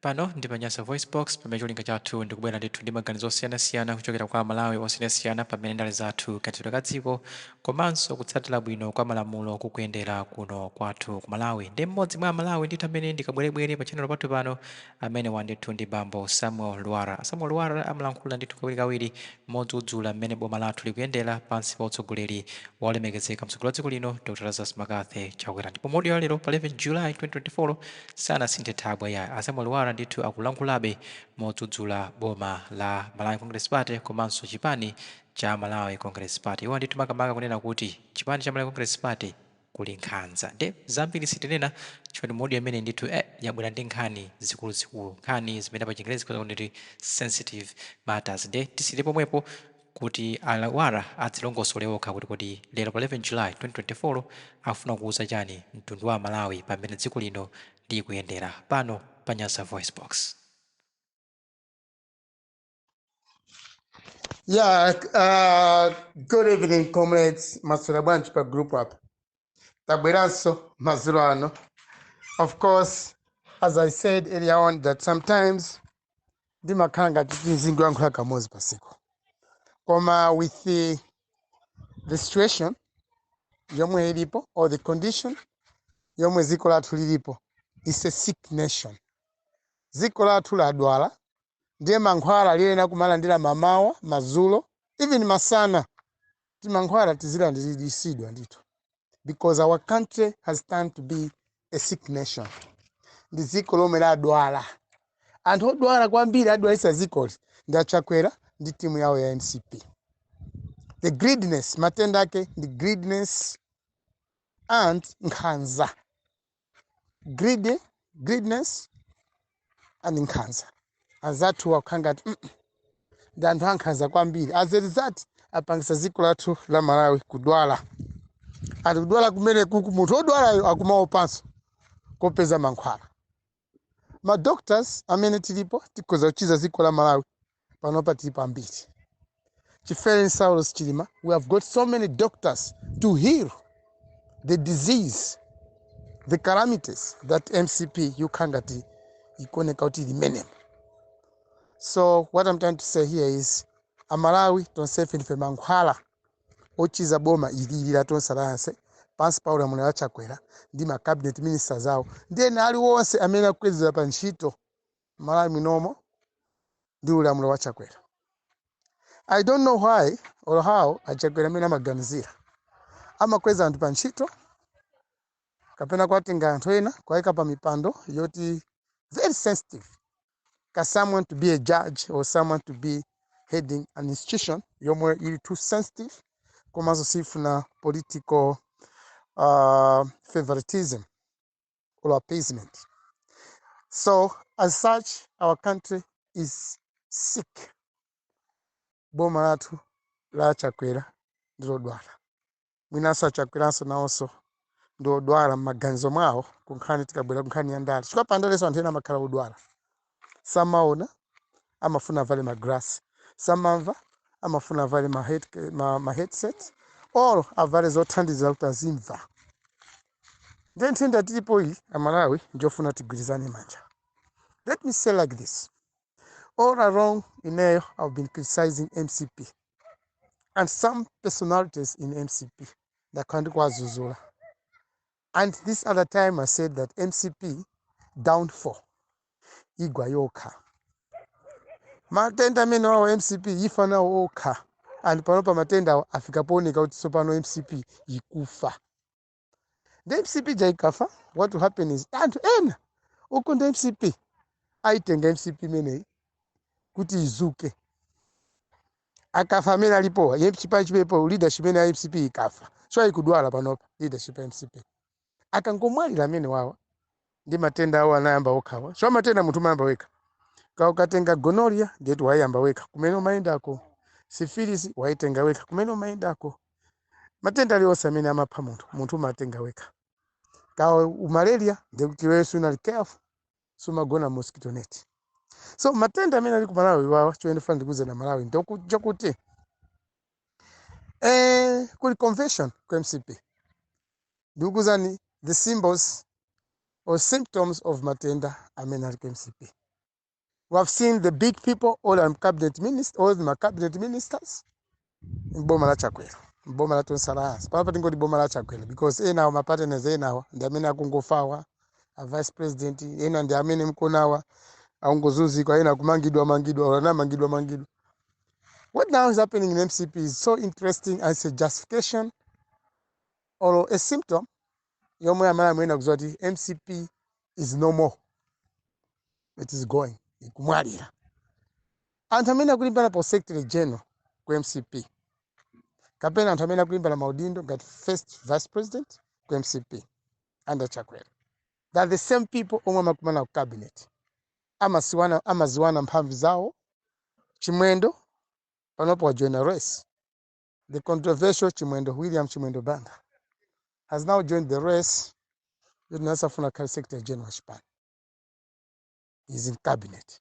Pano ndi pa Nyasa VoiceBox, pamene cholinga chathu ndi kubwera ndithu ndi maganizo osiyanasiyana kuchokera kwa Amalawi osiyanasiyana pa mmene ndale zathu, kayendetsedwe ka dziko, komanso kutsatira bwino kwa malamulo kukuyendera kuno kwathu ku Malawi. Nde mmodzi mwa Amalawi ndithu amene ndi kabwerebwere pa tchannel pathu pano, amenewa ndithu ndi bambo Samuel Lwara. A Samuel Lwara amalankhula ndithu kawirikawiri modzudzula mmene boma lathu likuyendera pansi pa utsogoleri wa olemekezeka mtsogoleri wa dziko lino, Dr Lazarus McCarthy Chakwera. Ndipo mu audio ya lero pa 11 July 2024, Sanasinthe thabwa yayi. A Samuel Lwara ndithu akulankhulabe modzudzula boma la Malawi Congress Party komanso chipani cha Malawi Congress Party. Iwo ndithu makamaka kunena kuti chipani cha Malawi Congress Party kuli nkhanza. Nde zambiri sitinena chifukwa ndi audio imene ndithu eh yabwera ndi nkhani zikuluzikulu. Nkhani zimene pa chingerezi tikhoza kunena kuti sensitive matters. Nde tisiyire pomwepo. kuti a Lwara adzilongosole okha kuti kodi lero pa 11 July 2024 akufuna kuuza chani mtundu wa amalawi pa mmene dziko lino likuyendera pano pa Nyasa VoiceBox. Yeah, uh, good evening comrades, maswera bwanji pa group apa. tabweranso madzulo ano of course as i said earlier on that sometimes ndimakhala ngati ndizingoyankhula kamodzi pasiku koma with the, the situation yomwe ilipo or the condition yomwe dziko lathu lilipo is a sick nation dziko lathu ladwala ndiye mankhwala liyenera kumalandira mamawa madzulo even masana Timankhwala tizilandilidwa ndithu because our country has turned to be a sick nation. Ndi dziko lomwe ladwala. Anthu odwala kwambiri adwalitsa dzikoli ndi a Chakwera ndi timu yawo ya mcp. The greediness, matenda ake ndi greediness and nkhanza. greedy greediness and nkhanza anzathu akukhala ngati mm, mm, ndi anthu ankhanza kwambiri as a result apangisa dziko lathu la malawi kudwala and kudwala kumeneku munthu odwalayo akumaopanso kopeza mankhwala madoctors amene tilipo tikhoza kuchiza dziko la malawi panopa tilipo ambiri chifere saulos chilima we have got so many doctors to heal the disease the calamities that mcp yokha ngati ikuoneka kuti limenemo so what i'm trying to say here is amalawi tonsefe ndife mankhwala ochiza boma ilili la tonse layanse pansi pa ulamuliro wa chakwera ndi ma cabinet ministers awo ndi ena aliwonse amene akukwezedwa pa ntchito Malawi munomo ndi ulamuliro wa Chakwera. I don't know why or how a Chakwera mmene amaganizira. Amakweza anthu pa ntchito kapena kuwatenga anthu ena kuwaika pa mipando yoti very sensitive ka someone to be a judge or someone to be heading an institution yomwe ili too sensitive komanso siifuna political uh, favoritism or appeasement. So, as such, our country is sick. Boma lathu la a Chakwera ndilodwala. Mwinanso a Chakweranso nawonso ndiodwala m'maganizo mwawo kunkhani tikabwera kunkhani ya ndale. Chifukwa pa ndalenso anthu ena amakhala odwala. samaona amafuna avale magalasi samamva amafuna avale ma, head, ma, ma headsets or avale zothandiza kuti azimva nde nthendayi ilipo iyi amalawi nchofuna tigwirizane manja let me say like this all along ineyo i've been criticizing mcp and some personalities in mcp ndakhala ndikuwadzudzula And this other time I said that mcp downfall igwa yokha matenda amenewawo mcp ifa nawo okha and panopa matendawo afika pooneka kuti tsopano mcp ikufa ndi mcp ija ikafa what will happen is anthu ena okonda mcp ayitenga mcp imeneyi kuti idzuke akafa amene alipowa ya chipani chipepo leadership imene ya mcp ikafa so ikudwala panopa leadership ya mcp akangomwalira amenewawa ndi matenda awo anayamba okhawa so matenda munthu umayamba wekha ka ukatenga gonorrhea ndiyeti wayamba wekha kumene umayendako syphilis wayitenga wekha kumene umayendako matenda alionse amene amapha munthu munthu umatenga wekha kaya malaria ndikuti iwe sunali careful sumagona m'mosquito net so matenda amene ali ku malawi awa chomwe ndifuna ndikuuzeni amalawi ndoku- chakuti eh, kuli convention ku mcp ndikuuzani the symbols or symptoms of matenda amene ali ku mcp we have seen the big people all our cabinet ministers onse ma cabinet ministers m'boma la chakwera m'boma la tonse alliance panopa tingoti boma la chakwera because enawa mapartners enawa ndi amene akungofawa a vice president ena ndi amene mukuonawa akungozunzika ena kumangidwa mangidwa or anamangidwa mangidwa what now is happening in mcp is so interesting as a justification or a symptom yomwe imene mukuyenera kudziwa kuti mcp is no more it is going ikumwalira Anthu amene akulimbana pa usecretary general ku mcp kapena anthu amene akulimbana maudindo ngati first vice president ku mcp under chakwera they are the same people omwe amakumana ku cabinet amaziwana amaziwana mphamvu zawo chimwendo panopo wajoina race the controversial chimwendo william chimwendo banda has now joined the race yoti naye safuna akhale secretary general wa chipani he's in cabinet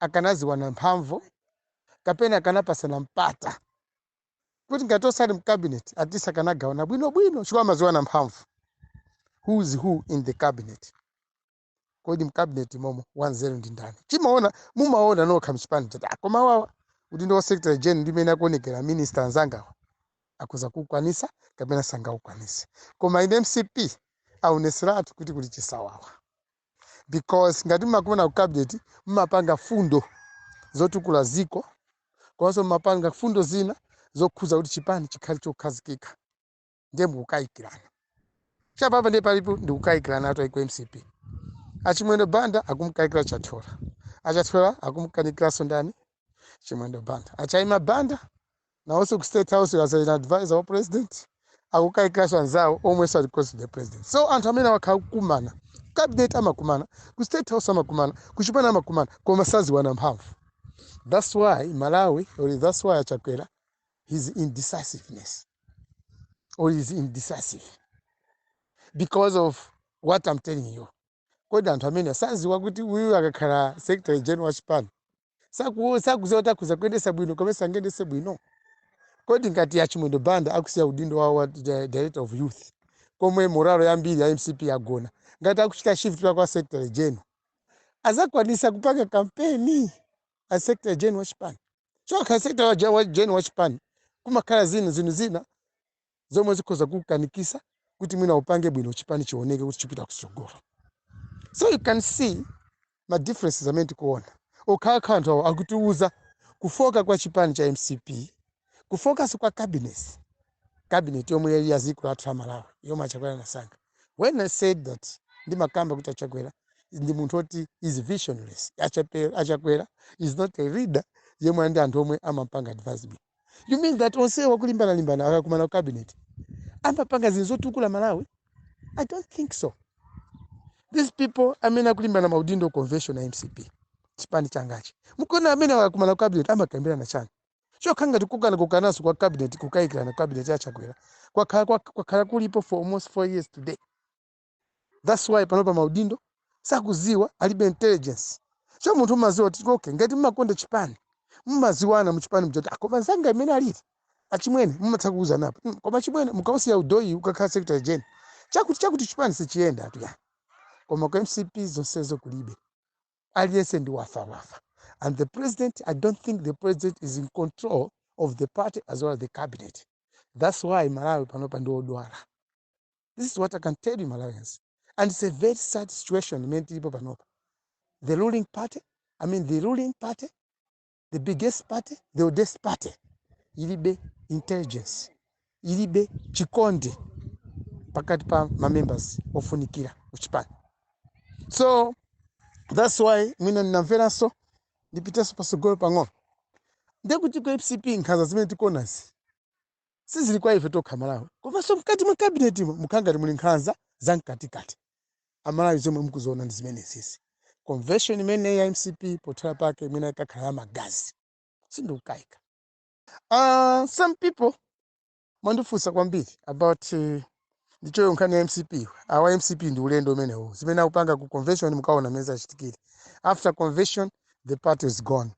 akanadziwana mphamvu kapena akanapatsana mpata kuti ngati onse ali mcabinet at least akanagawana bwinobwino chifukwa amadziwana mphamvu who is who in the cabinet kodi mcabinet momo wanzeru ndi ndani timaona mumaona nokha mchipani kuti "Ah, koma awawa kuti udindo wa secretary general ndimene akuonekera minister anzangawa akhoza kukwanisa kapena sangakukwanise koma in mcp aoneseratu kuti kuli chisawawa because ngati mmakumana ku cabinet mmapanga fundo zotukula ziko komanso mmapanga fundo zina zokhuza kuti chipani chikhale chokhazikika ndiye mukukayikirana chapapa ndiye palipo ndikukayikirana atu uku ku mcp achimwendo banda akumkayikira chathola achathola akumkayikiranso ndani chimwendo banda achaima banda Nawonso ku state house as an advisor wa president akukayikiranso anzawo omwenso ali close to the president. So anthu amene akakumana ku cabinet amakumana, ku state house amakumana, ku chipani amakumana koma sadziwana mphamvu. That's why Malawi or that's why Chakwera his indecisiveness or is indecisive because of what I'm telling you. Kodi anthu amene sadziwa kuti uyu akakhala secretary general wa chipani Saku- sakuziwa kuti akhoza kuyendesa bwino kapena sangayendese bwino kodi ngati a chimwendo banda akusiya udindo wa, wa di- director of youth komwe moralo yambiri ya mcp yagona ngati akuchita shift pa kwa secretary general azakwanisa kupanga kampeni a secretary general wa chipani so ukakhala secretary wa gen- wa general wa chipani kumakhala zina zinthu zina zomwe zikhoza kukukanikisa kuti mwina upange bwino chipani chioneke kuti chipite kutsogolo so you can see ma differences amene tikuona okhaokha anthuwa akutiuza kufoka kwa chipani cha mcp kufokanso kwa cabinets cabinet yomwe ili ya ziko lathu la malawi yomwe achakwera anasankha when i said that ndimakamba kuti achakwera ndi munthu oti is visionless Achape- achakwera is not a leader yemwe ndi anthu omwe amampanga advise you mean that onse wakulimbana limbana akakumana ku cabinet amapanga zinthu zotukula malawi i don't think so these people amene akulimbana maudindo convention ya mcp chipani changachi mukuona amene akakumana ku cabinet amakambirana chani chokha ngati kukana kukananso kwa cabinet kukayikirana ku cabinet yachakwera kwakhala kwa- kwakhala kulipo for almost four years today that's why panopa maudindo sakudziwa alibe intelligence so munthu umadziwa kuti okay ngati mmakonda chipani mmadziwana muchipani ndiwoti koma nzanga mmene alili achimwene mumatha kuuzanapo "Mm, koma chimwene mukausiya udowu ukakhala secretary general chakuti chakuti chipani sichiyendatu ya koma ku mcp zonsezo kulibe aliyense ndi wafa wafa and the president i don't think the president is in control of the party as well as the cabinet that's why malawi panopa ndi odwala this is what i can tell you malawians and it's a very sad situation imene tilipo panopa the ruling party i mean the ruling party the biggest party the oldest party ilibe intelligence ilibe chikondi pakati pa mamembers ofunikira kuchipani so that's why mwina ndinamveraso ndipitenso pasogolo pang'ono ndekuti ku mcp nkhanza zimene tikuonazi Sizili kwa ife tokha amalawi komanso mkati mwa cabinet mo mukukhala ngati muli nkhanza za mkatikati. Amalawi zomwe mukuziona ndi zimenezizi. Convention imeneyi ya mcp pothela pake mwina ikakhala ya magazi. Sindikukayika. Aaa some people mwandifunsa kwambiri about ndichoyo nkhani ya mcp awa mcp ndi ulendo umenewo zimene akupanga ku convention mukaona mmene zikachitikire after convention the party is gone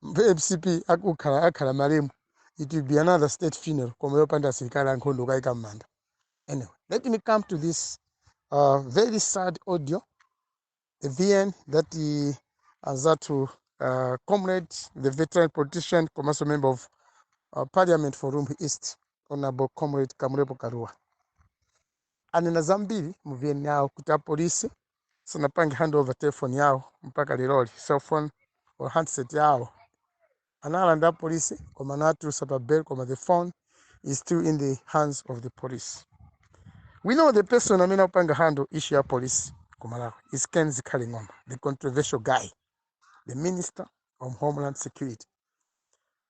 mcp akakhala akakhala malemu it will be another state funeral koma yopanda asilikali ankhondo kukayika m'manda anyway let me come to this uh, very sad audio vn that anzathu uh, comrade the veteran politician komanso member of uh, parliament for rumphi east honorable comrade kamlepo kalua anena zambiri mu vn yawo kuti apolisi sanapange handover telefoni yawo mpaka leroli cellphone or handset yawo Analanda apolisi koma anawatulusa pa bail koma the phone is still in the hands of the police. We know the person amene akupanga handle issue ya police ku Malawi is Ken Zikhale Ng'oma the controversial guy the minister of homeland security.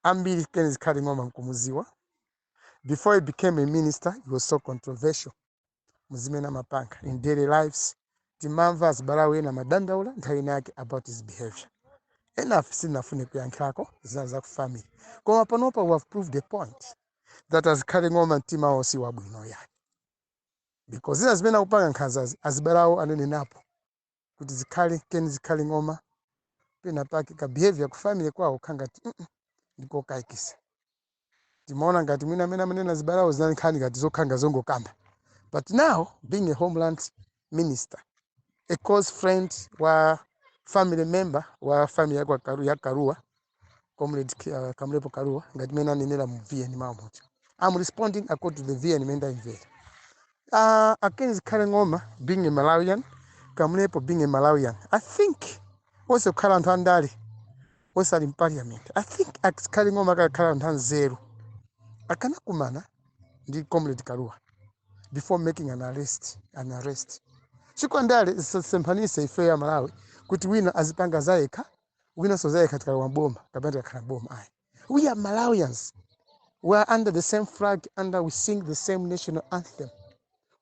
Ambiri Ken Zikhale Ng'oma mukumudziwa before he became a minister he was so controversial. muzimene amapanga in daily lives timamva azibale awo ena amadandaula nthawi ina yake about his behavior enafe sitinafune kuyankhirako zina za ku family koma panopa we have proved the point that azikhale ng'oma mtima wao si wabwino ayi because zina zimene akupanga nkhanzazi azibale awo ananenapo kuti zikhale ken zikhale ng'oma pena pake ka behavior ku family kwawo kakhala ngati mm ndikokayikitsa timaona ngati mwina amene amanena azibale awo zinali nkhani ngati zokhala ngati zongokamba but now being a homeland minister a close friend wa family member wa family yakwa Kalu- ya kalua comrade uh, kamlepo kaluwa ngati mene anenera mu vn mamuja i'm responding according to the vn mene ndayimvera uh, against zikhale ng'oma being a malawian kamlepo being a malawian i think onse kukhala anthu andale onse ali mparliament i think zikhale ng'oma akanakhala anthu anzeru akanakumana ndi comrade kaluwa before making an arrest an arrest chifukwa ndale zisasemphanise ife ya malawi kuti wina azipanga zayekha wina sozaye katika wa boma kapena katika boma ai we are malawians we are under the same flag and we sing the same national anthem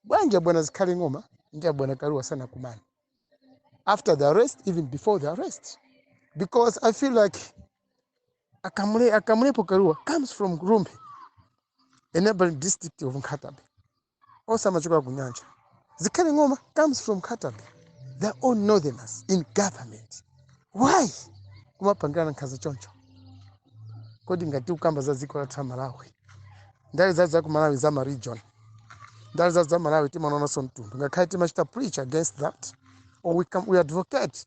bwanja bwana zikhale ng'oma nja bwana karuwa sana kumana after the arrest even before the arrest because i feel like akamule akamulepo karuwa comes from rumbe a neighboring district of nkhatabay onse amachokera ku nyanja zikhale ng'oma comes from nkhata bay they are all northerners in government why kumapangirana nkhanza choncho kodi ngati ukamba za dziko lathu la malawi ndale zathu za ku malawi za ma region ndale zathu za malawi timaonanso mtundu ngakhale timachita preach against that or we, come, we advocate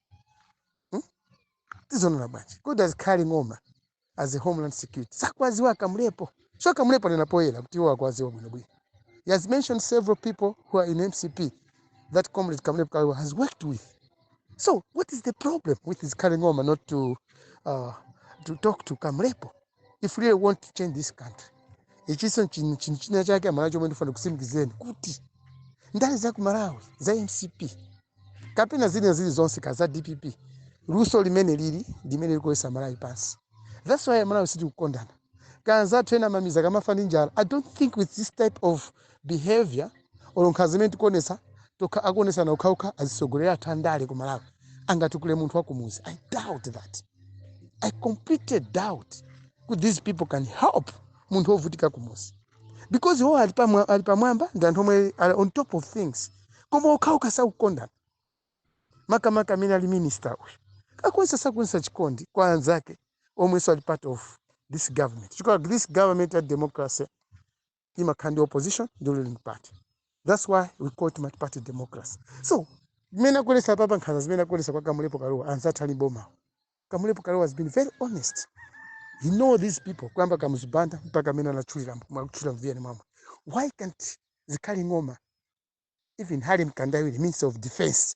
Hmm? Tizonona bwanji? Kodi does carry ng'oma as a homeland security? Sakwaziwa kamlepo. Sio kamlepo nena poyela kuti iwo akwaziwa bwino bwino. He has mentioned several people who are in MCP that comrade Kamlepo Kaliwa has worked with. So what is the problem with his carrying ng'oma not to uh, to talk to Kamlepo? if you really want to change this country ichinso chin- chin- china chake amalawi chomwe ndifuna kusimikizeni kuti ndale za ku malawi za mcp kapena zina zili zonse kaya za dpp luso limene lili limene likugwesa malawi pansi that's why malawi sitikukondana ka anzathu ena mmamizi akamafa ndi njala i don't think with this type of behavior or nkhanza imene tikuonetsa tokha akuonetsana okhaokha azitsogolere athu andale ku malawi angatukule munthu wakumuzi i doubt that i completely doubt kuti these people can help munthu wovutika kumuzi because iwo ali pamwa- ali pamwamba ndi anthu omwe ali on top of things koma okhaokha sakukondana makamaka amene ali minister uyu akuonesa sakuonesa chikondi kwa anzake omwenso ali part of this government chifukwa this government ya democracy imakhala ndi opposition ndi ruling party that's why we call it multiparty democracy so mmene akuonetsa apapa nkhanza zimene akuonetsa kwa kamulepo kaluwa anzathu ali mbomawo kamulepo kaluwa has been very honest he know these people kuyamba kamuzu banda mpaka amene anatchulira mwakutchulira mu vn mwamwe why can't zikhale ng'oma even Harry Mkandawire, Minister of Defense,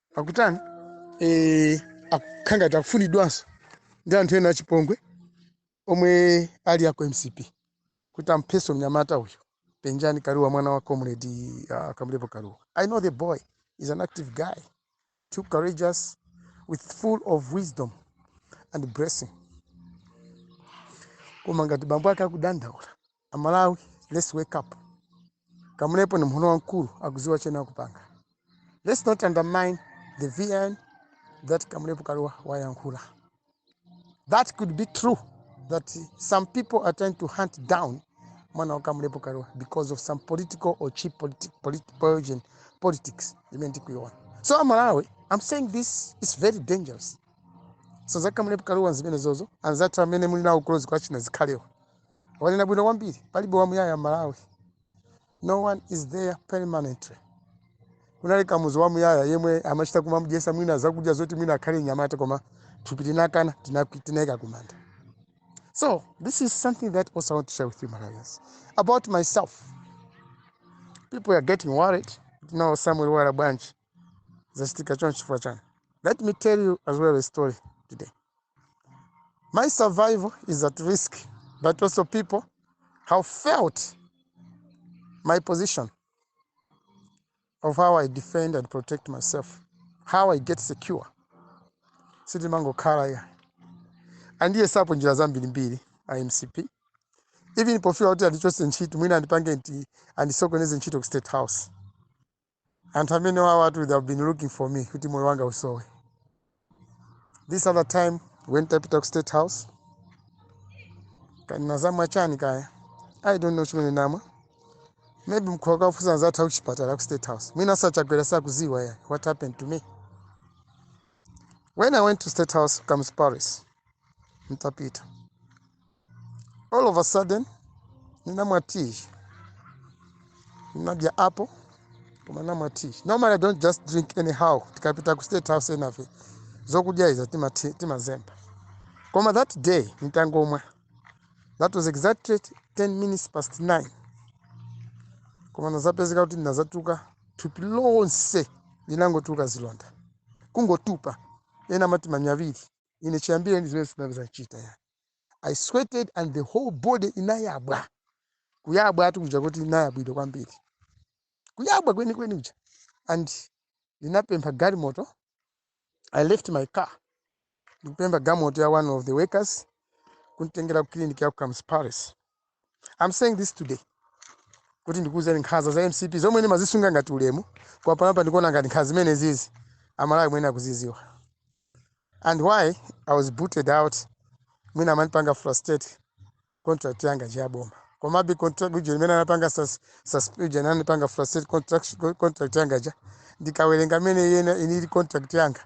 akutani eh, akukhala ngati akufunidwanso ndi anthu ena achipongwe omwe ali aku mcp kuti ampheso mnyamata uyu penjani kaluwa mwana wa comrade uh, kamlepo kaluwa i know the boy is an active guy too courageous with full of wisdom and blessing koma ngati bambo ake akudandaula Amalawi let's wake up Kamulepo ndi munthu wamkulu akuziwa chimene akupanga let's not undermine the vn that Kamulepo Kaluwa wayankhula that could be true that some people are trying to hunt down mwana wa Kamulepo Kaluwa because of some political or cheap politi politi poison politics imene tikuiona so amalawi i'm saying this is very dangerous so za Kamulepo Kaluwa zimenezozo anzathu amene muli nawo close kwa achina zikhalewa wanena bwino kwambiri palibe wamuyaya mmalawi no one is there permanently kunali kamuzu wamuyaya yemwe amachita kumamudyesa mwina zakudya zoti mwina akhale nyamata koma thupi linakana tinakwi- tinayika kumanda so this is something that also i want to share with you malawians about myself people are getting worried kuti nawo samuel lwara bwanji zachitika choncho chifukwa chani let me tell you as well a story today my survival is at risk but also people have failed my position of how i defend and protect myself how i get secure sitimangokhala ya andiyesapo njira zambirimbiri a mcp even pofuna kuti andichose ntchito mwina andipange nti andisokoneze ntchito ku state house anthu amene awawatu they have been looking for me kuti moyo wanga usowe this other time when ntapita ku state house kaya ninazamwa chani kaya i don't know chimene namwa maybe mukhoza kafusa anzathu akuchipatala ku state house mwina sanachedwe sakuziwa ya what happened to me when i went to state house kamuzu palace ntapita all of a sudden ndinamwa tea ndinadya apple koma ndinamwa tea normally i don't just drink anyhow tikapita ku state house enafe zokudya iza timati- timazemba koma that day nditangomwa that was exactly 10 minutes past 9 koma ndazapezeka kuti ndinazatuka thupi lonse linangotuka zilonda kungotupa ena amati manyaviri ine chiyambire ndi zimene sinazichitepo ya i sweated and the whole body inayabwa kuyabwa kwake kuja kuti inayabwidwa kwambiri kuyabwa kwenikweni kuja and ndinapempha galimoto i left my car ndikupempha galimoto ya one of the workers kunditengera ku clinic ya ku kamuzu palace I'm saying this today kuti ndikuwuzeni nkhanza za mcp zomwe ndimazisunga ngati ulemu koma panopa ndikuona ngati nkhanza zimene zizi amalawi muyenera kuziziwa and why i was booted out mwina amandipanga frustrate contract yanga ija ya boma komabe contract ija imene anapanga sus- sus- uja anandipanga frustrate contract, contract yanga ja ndikawerenga mmene iyenayo inalili contract yanga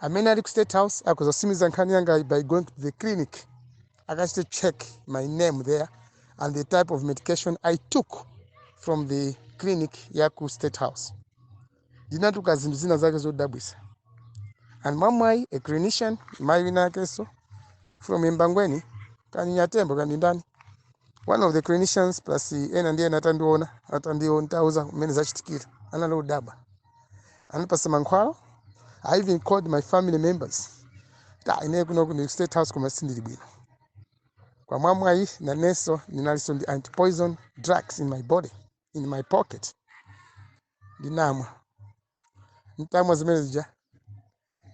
amene ali ku state house akhoza kusimiza nkhani yangayi by going to the clinic akachite check my name there and the type of medication i took from the clinic ya ku state house ndinatuka zinthu zina zake zodabwisa and mwamwayi a clinician mayi wina akenso from embangweni kanyatembo kaya ndi ndani one of the clinicians plus ena ndi ena atandiona nditawauza mmene zachitikira anali odabwa anandipasa mankhwala i even called my family members ta ine kuno ku state house koma sindili bwino kwa mwamwayi nanenso ndinalinso ndi antipoison drugs in my body in my pocket ndinamwa ntamwa zimene zija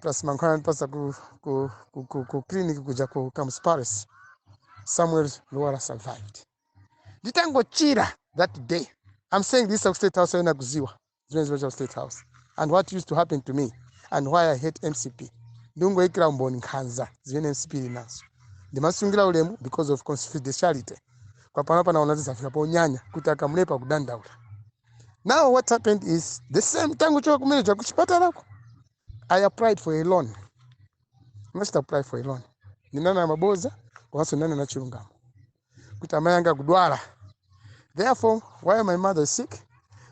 plus mankhwala anandipasa ku, ku, ku, ku, ku clinic kuja ku kamuzu palace samuel lwara survived nditangochira that day i'm saying this akustate house ena akuziwa zimene zimachitika ku state house and what used to happen to me and why i hate mcp ndingoyikira umboni nkhanza zimene mcp ili nazo ndimasungira ulemu because of confidentiality papano ndaona zafika ponyanya kuti akamulepera kudandaula now what happened is the same tangochoka kumene ku kuchipatalako i applied for a loan mnachita apply for a loan ndinanena maboza komanso ndinanena chilungamo kuti amayi anga akudwala therefore while my mother is sick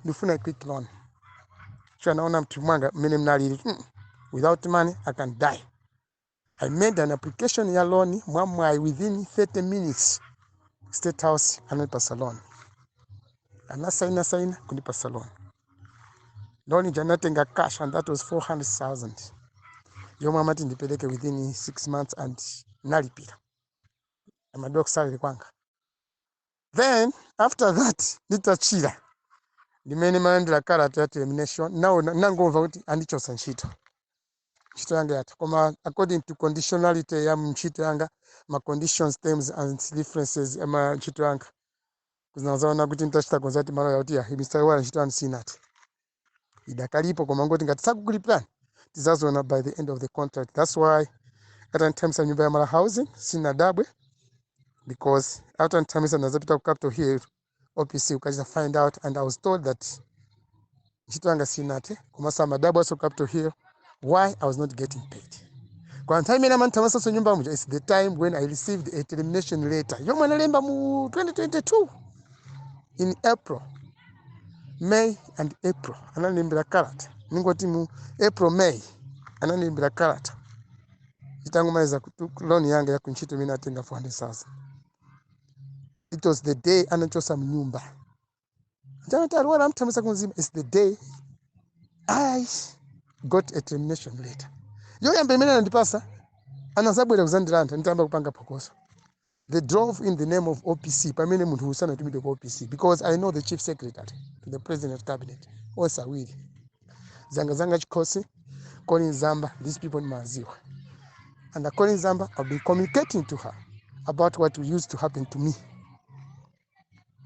ndifuna a quick loan so nnaona mtima mwanga mmene mnalili mm, without money i can die i made an application ya loan mwamwayi within 30 minutes state house anandipasa loan anasaina saina kundipasa loan loan ija nnatenga cash and that was 400000 yomwe amati ndipereke within 6 months and nalipira amadula ku salary kwanga then after that nditachira ndimene nalandira kalata ya termination now nangomva kuti andichotsa ntchito ntchito yanga yatha koma according to conditionality ya ntchito yanga ma conditions terms and references a ntchito yanga nazaona kuti nditachita consult maloya kuti ya mr lwara ntchito yanu sinathe idakalipo komangoti ngati sakukulipirani tizaziona by the end of the contract that's why atanthamisa nyumba ya malawi housing sinadabwe because atanthamisa nazapita ku capital hill opc kukachita find out and i was told that ntchito yanga sinathe komanso amadabwa awo ku capital hill why i was not getting paid kwa nthawi imene amandithamitsanso nyumba muja its the time when i received a termination letter yomwe analemba mu 2022 in april may and april anandilembera kalata ningoti mu april may anandilembera kalata itangomaliza kutu- loan yanga ya kuntchito imene natenga 400000 it was the day anachosa mnyumba Ya Natali Lwara amuthamitsa ku Mzimba is the day I got a termination letter. Yoyamba imene anandipasa anazabwera kuzandilanda nditayamba kupanga phokoso. They drove in the name of OPC pamene munthu uyu sanatumidwe ku OPC because I know the chief secretary to the president and cabinet onse awiri Zanga Zanga Chikhosi Colleen Zamba these people ndimawaziwa and Colleen Zamba I've been communicating to her about what used to happen to me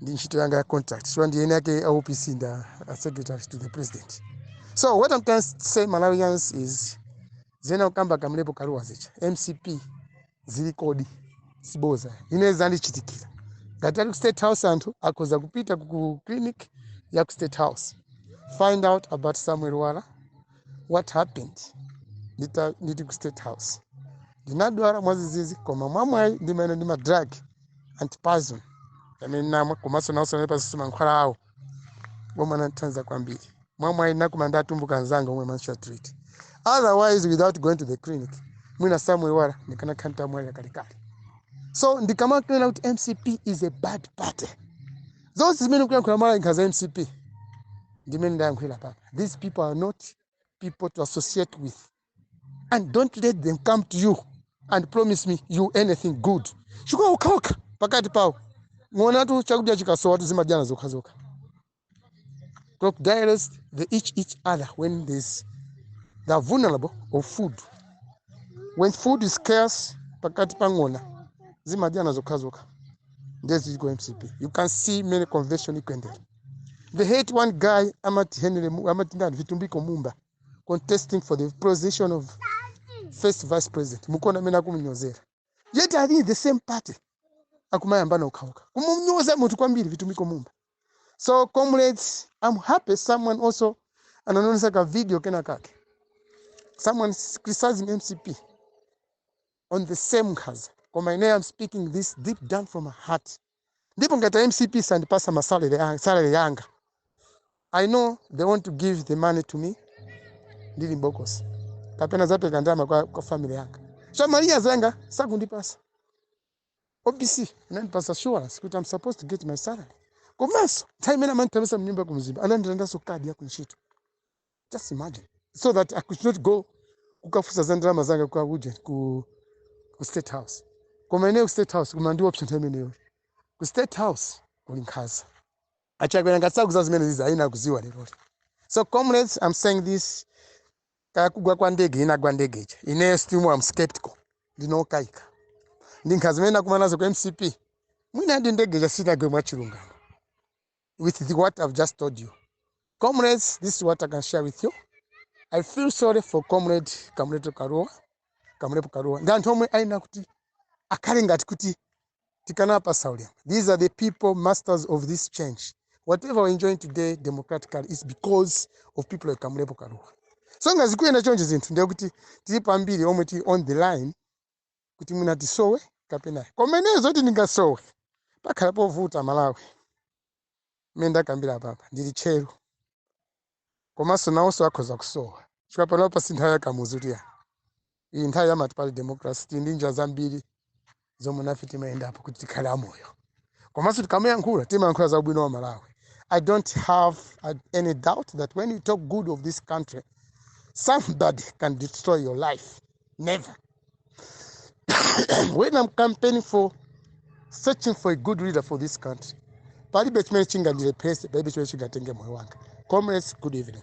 ndi ntchito yanga ya contract chifukwa ndi eni ake a opc ndi a a secretary to the president so what i can say malawians is zimene akukamba kamlepo kalua za mcp zili kodi siboza ine zandichitikira ngati ali ku state house anthu akhoza kupita ku- ku clinic ya ku state house find out about samuel lwara what happened ndita- ndili ku state house ndinadwala mwadzidzidzi koma mwamwayi ndimaenda ndi ma drug antipoison amene namwa komanso nawonso anali pansi mankhwala awo omwe anathandiza kwambiri mwamwayi nakumana ndi atumbuka anzanga omwe amanditreat otherwise without going to the clinic mwina samuel lwara ndikanakhala nditamwalira kalekale so ndikamakunena kuti mcp is a bad party zonse zimene akuyankhula lwara nkhanza za mcp ndimene ndayankhulira apapa these people are not people to associate with and don't let them come to you and promise me you anything good chifukwa okhaokha pakati pawo ng'onatu chakudya chikasowa zimadyana zokhazokha crocodiles they eat each other when there's they are vulnerable of food when food is scarce pakati pa ng'ona zimadyana zokhazokha nde zili ku mcp you can see mmene convention ikuyendera they hate one guy amati henry Mu- amati ndani vitumbiko mumba contesting for the position of first vice president mukuona amene akumunyozera yet ali in the same party akumayambana okhaokha kumunyoza munthu kwambiri vitumbiko mumba so comrades i'm happy someone also anandionetsa ka video kena kake someone criticizing mcp on the same nkhanza koma ineyo i'm speaking this deep down from my heart ndipo ngati a mcp sandipasa ma salary a- salary yanga i know they want to give the money to me ndili mbokosi kapena adzapereke ndalama kwa, kwa family yanga so malawians zanga sakundipasa opc anandipasa assurance kuti i'm supposed to get my salary komanso nthawi imene amandithamangitsa mnyumba kumzimba anandilandanso kadi yakuntchito just imagine so that i could not go kukafunsa za ndalama zanga kwa uja ku, ku state house koma ineyo ku state house kumandiopsezanso nthawi imeneyo ku state house kuli nkhanza achakwera ngati sakudziwa zimene izi ayenera kudziwa leroli so comrades i'm saying this kaya kugwa kwa ndege inagwa ndege ija ineyo still i'm skeptical ndikukayika ndi nkhanza zimene nakumana nazo ku mcp mwina ndi ndege ija sinagwe mwachilungamo with the what I've just told you. Comrades, this is what I can share with you. I feel sorry for comrade Kamleto Kalua, Kamlepo Kalua. Ndi anthu omwe ayenera kuti akhale ngati kuti tikanawapatsa ulemu. These are the people masters of this change. Whatever we're enjoying today democratically is because of people like Kamlepo Kalua. So ngati zikuyenda chonje zinthu ndiye kuti tilipo ambiri omwe tili on the line kuti mwina tisowe kapena ayi. koma ineyo zoti ndingasowe pakhala povuta Malawi mmene ndakambira apapa ndili tcheru komanso nawonso akhoza kusowa chifukwa panopa si nthawi ya Kamuzu kuti ya iyi nthawi ya multiparty democracy tili ndi njira zambiri zomwe nafe timayendapo kuti tikhale amoyo komanso tikamayankhula timayankhula za ubwino wa Malawi i don't have uh, any doubt that when you talk good of this country somebody can destroy your life never when I'm campaigning for searching for a good leader for this country palibe chimene chingandilepheretse palibe chimene chingatenge moyo wanga comrades good evening